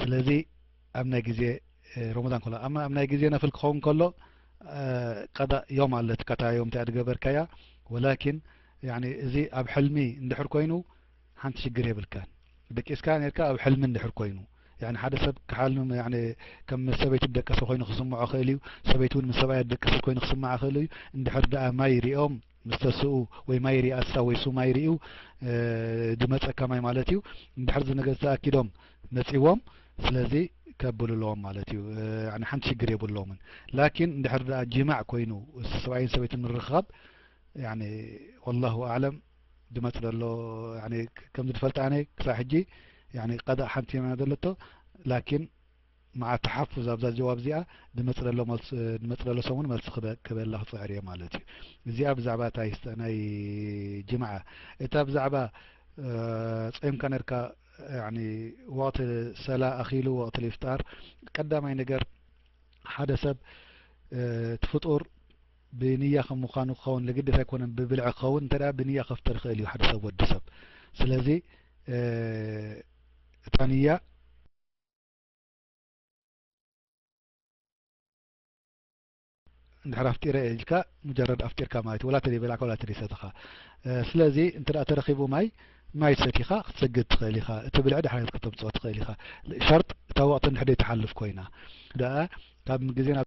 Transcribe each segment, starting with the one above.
ስለዚ ኣብ ናይ ግዜ ሮሞዳን ከሎ ኣማ ኣብ ናይ ግዜ ነፍል ክኸውን ከሎ ቀዳእ ዮም ኣለትካ እታ ዮም እቲኣ ዝገበርካያ ወላኪን እዚ ኣብ ሕልሚ እንድሕር ኮይኑ ሓንቲ ሽግር የብልካን ደቂስካ ነርካ ኣብ ሕልሚ እንድሕር ኮይኑ ሓደ ሰብ ክሓልም ከም ምስ ሰበይቱ ደቀሰ ኮይኑ ክስምዖ ክእል እዩ ሰበይቲ እውን ምስ ሰብኣያ ደቀሰት ኮይኑ ክስምዓ ክእል እዩ እንድሕር ድኣ ማይ ሪኦም ምስ ተስኡ ወይ ማይ ሪኣሳ ወይ ሱማይ ሪኡ ድመጸካ ማይ ማለት እዩ እንድሕር እዚ ነገ ዝተኣኪዶም መጺዎም ስለዚ ከብልሎም ማለት እዩ ያኒ ሓንቲ ሽግር የብሎምን ላኪን እንድሕር ደኣ ጂማዕ ኮይኑ ሰብኣይን ሰበይትን ምርኻብ ያኒ ወላሁ ኣዕለም ድመጽ ደሎ ያኒ ከምዚ ድፈልጥ ኣነ ክሳብ ሕጂ ያኒ ቀዳእ ሓንቲ የመና ደለቶ ላኪን መዓት ትሓፉዝ ኣብዛ ጀዋብ እዚኣ ንመጽለሎ መልስ ንመጽለሎ ሰሙን መልሲ ክበ ክበላ ክጽዕር እየ ማለት እዩ እዚኣ ብዛዕባ እታ ይስጠ ናይ ጅማዓ እታ ብዛዕባ ጸምካ ነርካ ያኒ ወቅቲ ሰላ ኣኺሉ ወቅቲ ልፍጣር ቀዳማይ ነገር ሓደ ሰብ እቲ ፍጡር ብንያ ከም ምዃኑ ክኸውን ለግደስ ኣይኮነን ብብልዒ ክኸውን እንተ ብንያ ከፍጥር ይኽእል እዩ ሓደ ሰብ ወዲ ሰብ ስለዚ እታ ንያ እንድሕር ኣፍጢረ እየ ኢልካ ሙጀረድ ኣፍጢርካ ማለት እዩ ወላ ተደይ በላዕካ ወላ ተደይ ሰተኻ ስለዚ እንተ ተረኺቡ ማይ ማይ ሰቲኻ ክትሰግድ ትኽእል ኢኻ እቲ ብልዒ ድሓነት ከተምፅኦ ትኽእል ኢኻ ሸርጥ እታ ወቕቲ እንድሕደይ ትሓልፍ ኮይና ደኣ ካብ ግዜ ናብ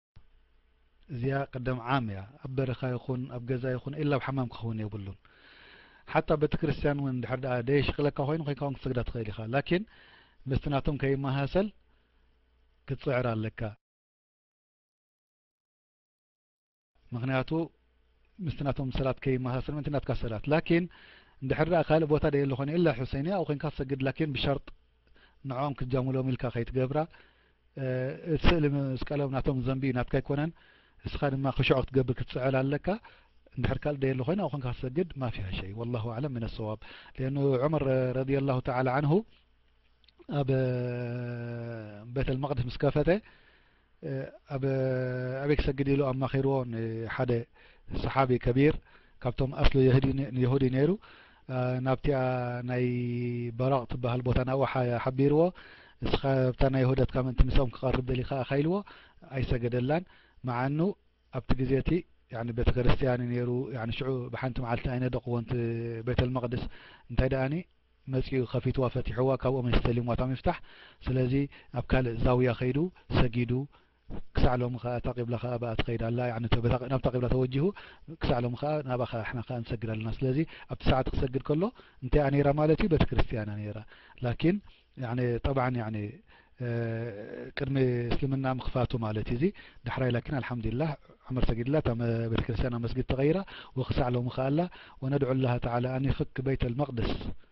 እዚኣ ቅደም ዓም እያ ኣብ በረኻ ይኹን ኣብ ገዛ ይኹን ኢላ ኣብ ሓማም ክኸውን የብሉን ሓታ ቤተክርስትያን እውን ድሕር ድኣ ደየሽቅለካ ኮይኑ ኮይንካ እውን ክትሰግዳ ትኽእል ኢኻ ላኪን ምስቲ ናቶም ከይመሃሰል ክትፅዕር ኣለካ ምክንያቱ ምስቲ ናቶም ሰላት ከይመሃሰል ምእንቲ ናትካ ሰላት ላኪን እንድሕር ድኣ ካልእ ቦታ ደየለ ኮይኑ ኢላ ሑሰይንያ ኣብኡ ኮይንካ ትሰግድ ላኪን ብሸርጥ ንዕኦም ክትጃሙሎም ኢልካ ከይትገብራ እቲ ስእሊ መስቀሎም ናቶም ዘንቢ እዩ ናትካ ኣይኮነን እስኻ ድማ ክሹዕ ክትገብር ክትፅዕል ኣለካ እንድሕር ካልእ ደየለ ኮይና ኣብኡ ኮንካ ክትሰግድ ማፊሃ ሸይ ወላሁ ኣዕለም ምን ኣሰዋብ ሊአኑ ዑመር ረድየ ላሁ ተዓላ ዓንሁ ኣብ ቤተ ልመቅድስ ምስ ከፈተ ኣብ ኣበይ ክሰግድ ኢሉ ኣማኺርዎ ሓደ ሰሓቢ ከቢር ካብቶም ኣስሉ የሁዲ ነይሩ ናብቲኣ ናይ በራቅ ትበሃል ቦታ ናብኡ ሓቢርዎ እስኻ ኣብታ ናይ ሆደትካ ምእንቲ ምስኦም ክቀርብ ደሊካ ኢኻ ኢልዎ ኣይሰገደላን ምዓኑ ኣብቲ ግዜ እቲ ያኒ ቤተክርስትያን እዩ ነይሩ ያኒ ሽዑ ብሓንቲ መዓልቲ ኣይነደቅዎን እቲ ቤተልመቅድስ እንታይ ደኣኒ መጺኡ ከፊትዋ ፈቲሕዋ ካብኦም እስተሊምዋ እታ ምፍታሕ ስለዚ ኣብ ካልእ ዛውያ ከይዱ ሰጊዱ ክሳዕ ሎሚ ከኣ እታ ቂብላ ከኣ ብኣ ትኸይድ ኣላ ያዕኒ ተበታ ናብታ ቂብላ ተወጂሁ ክሳዕ ሎሚ ከኣ ናብኣ ከኣ ንሕና ከኣ ንሰግድ ኣለና ስለዚ ኣብቲ ሰዓት ክሰግድ ከሎ እንታይ እያ ነይራ ማለት እዩ ቤተ ክርስትያን እያ ነይራ ላኪን ያዕኒ ጠብዓን ያዕኒ ቅድሚ እስልምና ምክፋቱ ማለት እዩ እዚ ዳሕራይ ላኪን ኣልሓምዱሊላህ ዑመር ሰጊድላ እታ ቤተ ክርስትያን ኣብ መስጊድ ተቐይራ ወክሳዕ ሎሚ ከኣላ ወነድዑ ላህ ተዓላ ኣን ይፍክ በይተ ልመቅድስ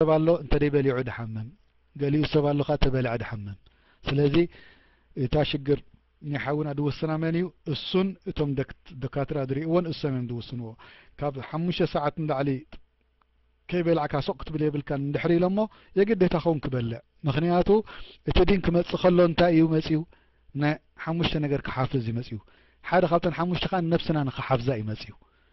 ሰብ ኣሎ እንተደይ በሊዑ ድሓምም ገሊኡ ሰብ ኣሎ ከኣ ተበልዐ ድሓምም ስለዚ እታ ሽግር ናይ ሓውና ድውስና መን እዩ እሱን እቶም ደካትራ ድሪእዎን እሶም እዮም ድውስንዎ ካብ ሓሙሽተ ሰዓት ንላዕሊ ከይበላዕካ ሱቅ ክትብል የብልካን እንድሕር ኢሎሞ የግዴታ ኸውን ክበልዕ ምክንያቱ እቲ ዲን ክመፅእ ከሎ እንታይ እዩ መፅዩ ናይ ሓሙሽተ ነገር ክሓፍዝ እዩ መፅዩ ሓደ ካብተን ሓሙሽተ ከዓ ነብስና ንክሓፍዛ እዩ መፅዩ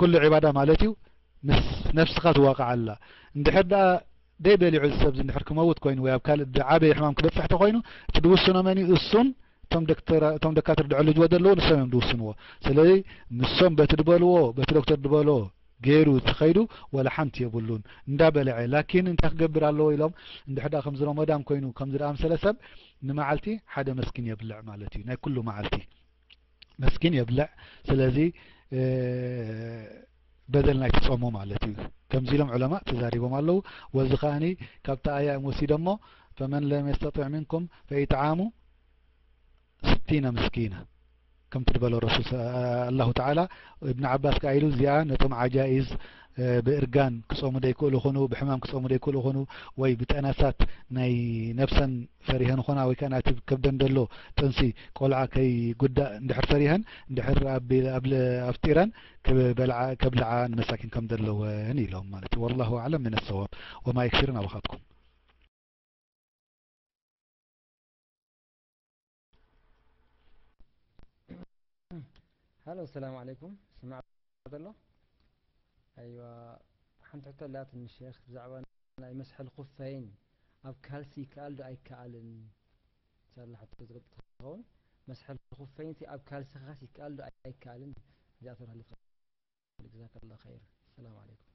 ኩሉ ዒባዳ ማለት እዩ ምስ ነፍስኻ ትዋቃዓላ እንድሕር ደኣ ደይ በሊዑ እዚ ሰብዚ እንድሕር ክመውት ኮይኑ ወይ ኣብ ካልእ ድዓበየ ሕማም ክበጽሕ ተኾይኑ እቲ ድውስኖ መን እዩ እሱን እቶም ደካትር ድዕሉ ጅወ ዘለዎ ንሶም እዮም ድውስንዎ ስለዚ ንሶም በቲ ድበልዎ በቲ ዶክተር ድበሎ ገይሩ ተኸይዱ ወላ ሓንቲ የብሉን እንዳ በለዐ ላኪን እንታይ ክገብር ኣለዎ ኢሎም እንድሕር ደኣ ከምዚ ሮሞዳን ኮይኑ ከምዚ ደኣ ምሰለ ሰብ ንመዓልቲ ሓደ መስኪን የብልዕ ማለት እዩ ናይ ኩሉ መዓልቲ መስኪን የብልዕ ስለዚ በደል ናይቲ ጾሙ ማለት እዩ ከምዚ ኢሎም ዑለማ ተዛሪቦም ኣለዉ ወዚ ከኣኒ ካብቲ ኣያ እዮም ወሲዶሞ ፈመን ለም የስተጢዕ ምንኩም ፈኢጥዓሙ ስቲነ ምስኪነ ከምቲ ዝበሎ ረሱል ኣላሁ ተዓላ እብኒ ዓባስ ከኣ ኢሉ እዚኣ ነቶም ዓጃኢዝ ብእርጋን ክጾሙ ደይክእሉ ይኹኑ፣ ብሕማም ክጾሙ ደይክእሉ ይኹኑ፣ ወይ ብጠነሳት ናይ ነብሰን ፈሪሀን ይኾና፣ ወይ ከኣ ናቲ ከብደን ደሎ ጥንሲ ቆልዓ ከይጉዳእ እንድሕር ፈሪሀን እንድሕር ኣፍጢረን ክበልዓ ከብልዓ ንመሳኪን ከም ዘለወን ኢሎም ማለት እዩ። ወላሁ ኣዕለም ምን ኣሰዋብ ወማ የክፊርን ኣባኻትኩም። ሃሎ ሰላም ዓለይኩም ስማዕ ዘሎ ኣይዋ ሓንቲ ሕቶ ኣላትኒ ሼክ ብዛዕባ ናይ መስሐል ኩፈይን ኣብ ካልሲ ይከኣል ዶ ኣይከኣልን ሳላ ሕቶ ዝገልጥ ትኸውን መስሐል ኩፈይን ኣብ ካልሲ ኻስ ይከኣል ዶ ኣይከኣልን እዚኣ ተብሃልት ጀዛከላ ኸይር ሰላም ዓለይኩም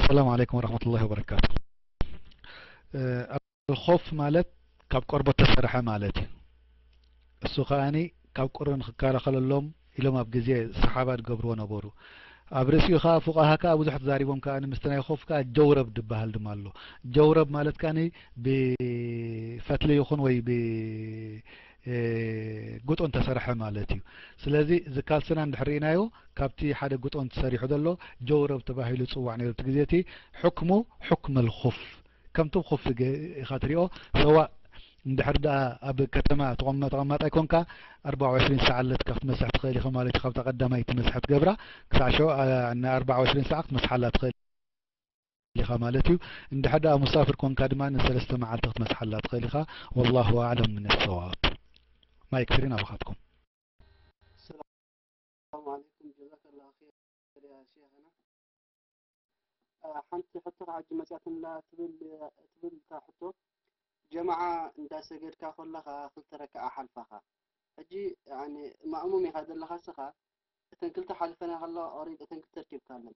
ሰላም ዓለይኩም ወረሕመቱላሂ ወበረካቱ ኣልኾፍ ማለት ካብ ቆርቦት ተሰርሐ ማለት እዩ እሱ ከኣኒ ካብ ቁሪ ንክከላኸለሎም ኢሎም ኣብ ግዜ ሰሓባ ዝገብርዎ ነበሩ ኣብ ርእሲኡ ከዓ ፉቃሃ ከዓ ብዙሕ ተዛሪቦም ከዓ ምስቲ ናይ ኮፍ ከዓ ጀውረብ ዝበሃል ድማ ኣሎ ጀውረብ ማለት ከዓ ብፈትሊ ይኹን ወይ ጉጦን ተሰርሐ ማለት እዩ ስለዚ እዚ ካልስና እንድሕር ርኢናዮ ካብቲ ሓደ ጉጦን ተሰሪሑ ዘሎ ጀውረብ ተባሂሉ ዝፅዋዕ ነይሩ እቲ ግዜ እቲ ሕክሙ ሕክም ልኹፍ ከምቲ ኹፍ ኢኻ ትሪኦ ሰዋእ እንድሕር ደኣ ኣብ ከተማ ተቐማጣይ ኮንካ ኣርባ ዕሽሪን ሰዓት ኣለትካ ክትመስሕ ትኽእል ኢኻ ማለት እዩ ካብታ ቀዳማይ እቲ መስሐ ትገብራ ክሳዕ ሸ ንኣርባ ዕሽሪን ሰዓት ክትመስሓላ ትኽእል ኢኻ ማለት እዩ እንድሕር ደኣ ሙሳፍር ኮንካ ድማ ንሰለስተ መዓልቲ ክትመጽሓላ ትኽእል ኢኻ ወላሁ ኣዕለም ምን ኣሰዋብ ማይክ ፍሪ ናባኻትኩም። ሰላም ዓለይኩም ጀዛከላ ኸይር ያ ሼኽና ሓንቲ ሕቶ ከዓ ሕጂ መፅያትንላ ትብል ትብል እታ ሕቶ ጀማዓ እንዳሰገድካ ኮለኻ ክልተ ረክዓ ሓልፋኻ ሕጂ ማእሙም ኢኻ ዘለኻ ስኻ እተን ክልተ ሓሊፈና ከለዋ ኦሬዲ እተን ክልተ ርኪብካለን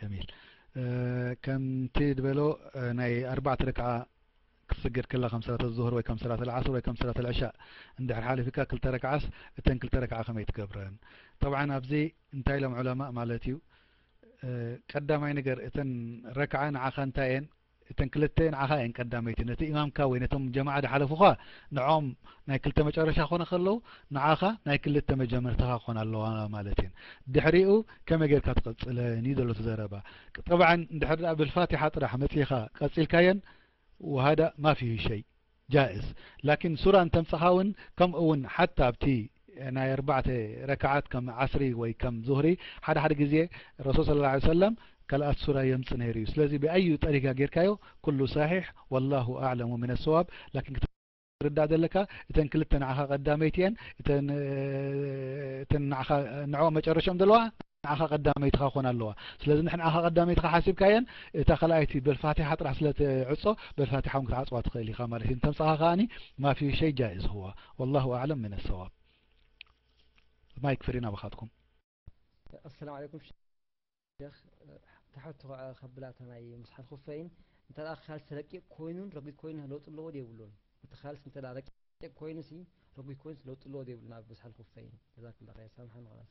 ጀሚል ከምቲ ዝበሎ ናይ ኣርባዕተ ረክዓ ክትስገድ ከላ ከም ሰላት ዙሁር ወይ ከም ሰላት ልዓስር ወይ ከም ሰላት ልዕሻእ እንድሕር ሓሊፊካ ክልተ ረክዓስ እተን ክልተ ረክዓ ከመይ ትገብረን ጠብዓ ኣብዚ እንታይ ኢሎም ዑለማ ማለት እዩ ቀዳማይ ነገር እተን ረክዓ ንዓኻ እንታይ እየን እተን ክልተ ንዓኻ እየን ቀዳመይቲ ነቲ እማምካ ወይ ነቶም ጀማዓ ድሓለፉኻ ንዖም ናይ ክልተ መጨረሻ ክኾነ ከለዉ ንዓኻ ናይ ክልተ መጀመርታኻ ክኾና ኣለዋ ማለት እየን ድሕሪኡ ከመይ ጌርካ ትቕጽለን እዩ ዘሎ ትዘረባ ጠብዓን እንድሕር ድኣ ብልፋቲሓ ጥራሕ መጺኻ ቀጺልካየን ወሃዳ ማፊ ሸይ ጃእዝ ላኪን ሱራ እንተምጻኻ ውን ከምኡ ውን ሓታ ኣብቲ ናይ ኣርባዕተ ረካዓት ከም ዓስሪ ወይ ከም ዙህሪ ሓደ ሓደ ግዜ ረሱል ሰለላሁ ዓለይሂ ወሰለም ካልኣት ሱራ የምጽእ ነይሩ እዩ ስለዚ ብኣዩ ጠሪጋ ጌርካዮ ኩሉ ሳሒሕ ወላሁ ኣዕለሙ ሚነ ሰዋብ ላኪን ክትርዳእ ዘለካ እተን ክልተ ንዓኻ ቀዳመይቲ እየን እተን ንዓኻ ንዕኦም መጨረሽኦም ዘለዋ ንዓኻ ቀዳመይትኻ ክኾና ኣለዋ ስለዚ ንዓኻ ቀዳመይትኻ ሓሲብካየን እታ ካልኣይቲ በልፋቲሓ ጥራሕ ስለትዕጾ በልፋቲሓ እውን ክትዓጽዋ ትኽእል ኢኻ ማለት እዩ እንተምጻኻ ከዓኒ ማፊ ሸይ ጃይዝ ሁዋ ወላሁ ኣዕለም ምን ሰዋብ ማይክ ፍሪ ናባኻትኩም ኣሰላሙ ዓለይኩም ሸክ ትሓቱ ከዓ ካብላታ ናይ ምስሓል ኩፈይን እንተ ካልሲ ረቂቕ ኮይኑን ረጒድ ኮይኑ ለውጢ ኣለዎ ዶ የብሉን እቲ ካልሲ እንተ ረቂቕ ኮይኑ ሲ ረጒድ ኮይኑ ለውጢ ኣለዎ ዶ የብሉን ኣብ ምስሓል ኩፈይን ጀዛኩም ላ ኸይር ሳምሓን ኸላስ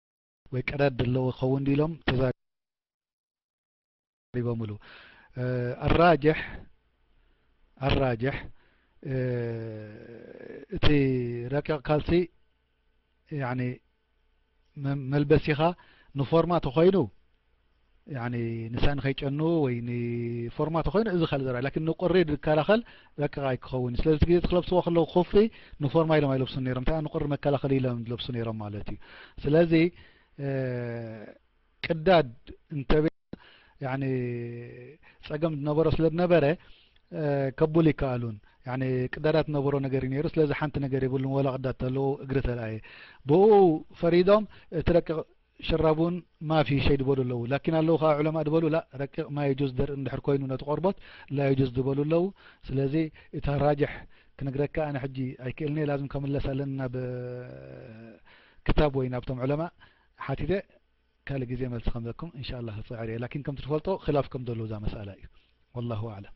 ወይ ቀዳድ ደለዎ ክኸውን ድዩ ኢሎም ተዛሪቦምሉ። ኣራጅሕ ኣራጅሕ እቲ ረቂቕ ካልሲ መልበሲኻ ንፎርማ ተኾይኑ ያኒ ንሳ ንኸይጨኑ ወይ ንፎርማቶ ኮይኑ እዚ ካልእ ዘረባ ላኪን ንቁሪ ዝከላኸል ረቂቕ ኣይክኸውን ስለዚ እቲ ግዜ እቲ ክለብስዎ ከለዉ ኩፍሪ ንፎርማ ኢሎም ኣይለብሱን ነይሮም እንታይ ንቁሪ መከላኸሊ ኢሎም ዝለብሱ ነይሮም ማለት እዩ ስለዚ ቅዳድ እንተበ ያኒ ጸገም ዝነበሮ ስለ ዝነበረ ከቡል ይከኣሉን ያኒ ቅዳዳት ዝነበሮ ነገር እዩ ነይሩ ስለዚ ሓንቲ ነገር የብሉን ወላ ቅዳድ ተለዉ እግሪ ተለኣየ ብኡ ፈሪዶም እቲ ረቂቕ ሽራቡን ማፊ ሸይ ድበሉ ኣለዉ ላኪን ኣለዉ ከኣ ዑለማእ ድበሉ ላእ ረቂቅ ማየጁዝ ደርኢ እንድሕር ኮይኑ ነቲ ቆርቦት ላየጁዝ ድበሉ ኣለዉ ስለዚ እታ ራጅሕ ክንግረካ ኣነ ሕጂ ኣይክእልንየ ላዝም ከምለስ ኣለኒ ናብ ክታብ ወይ ናብቶም ዑለማእ ሓቲተ ካልእ ግዜ መልሲ ከምበኩም እንሻላ ክፅዕር እየ ላኪን ከምቲ ትፈልጦ ክላፍ ከም ዘለዉ እዛ መስኣላ እዩ ወላሁ ኣዕለም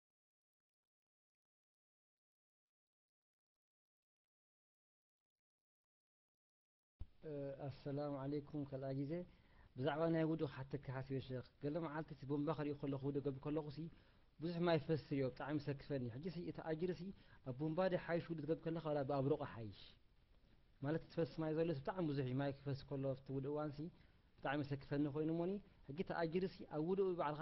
ኣሰላሙ ዓለይኩም ካልኣ ግዜ ብዛዕባ ናይ ውዱእ ክሓተካ ሓሲበ ሸኽ ገለ መዓልቲ እቲ ቦምባ ክሪኦ ከለኹ ውዱእ ገብር ከለኹ ሲ ብዙሕ ማይ ፈስስ ሪኦ ብጣዕሚ ይሰክፈኒ ሕጂ ሲ እቲ ኣጅሪ ሲ ኣብ ቦምባ ዲ ሓይሽ ውዱእ ትገብር ከለኻ ወላ ብኣብ ሩቕ ሓይሽ ማለት ትፈስስ ማይ ዘሎ ብጣዕሚ ብዙሕ እዩ ማይ ክፈስስ ከሎ ኣብቲ ውዱእ እዋን ሲ ብጣዕሚ ይሰክፈኒ ኮይኑ እሞኒ ሕጂ እቲ ኣጅሪ ሲ ኣብ ውዱእ ባዕልኻ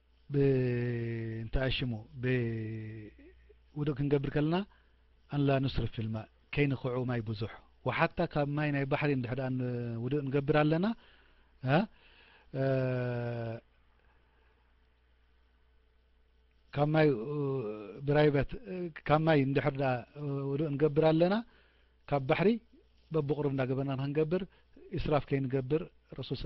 ብእንትኣ ሽሙ ብውዱእ ክንገብር ከለና ኣንላ ኑስርፍ ፊልማእ ከይንክዑ ማይ ብዙሕ ወሓታ ካብ ማይ ናይ ባሕሪ እንድሕር ደኣ ውዱእ ንገብር ኣለና ካብ ማይ ብራይበት ካብ ማይ እንድሕር ደኣ ውዱእ ንገብር ኣለና ካብ ባሕሪ በብቕሩብ እንዳገበርና ንክንገብር ኢስራፍ ከይንገብር ረሱል ስ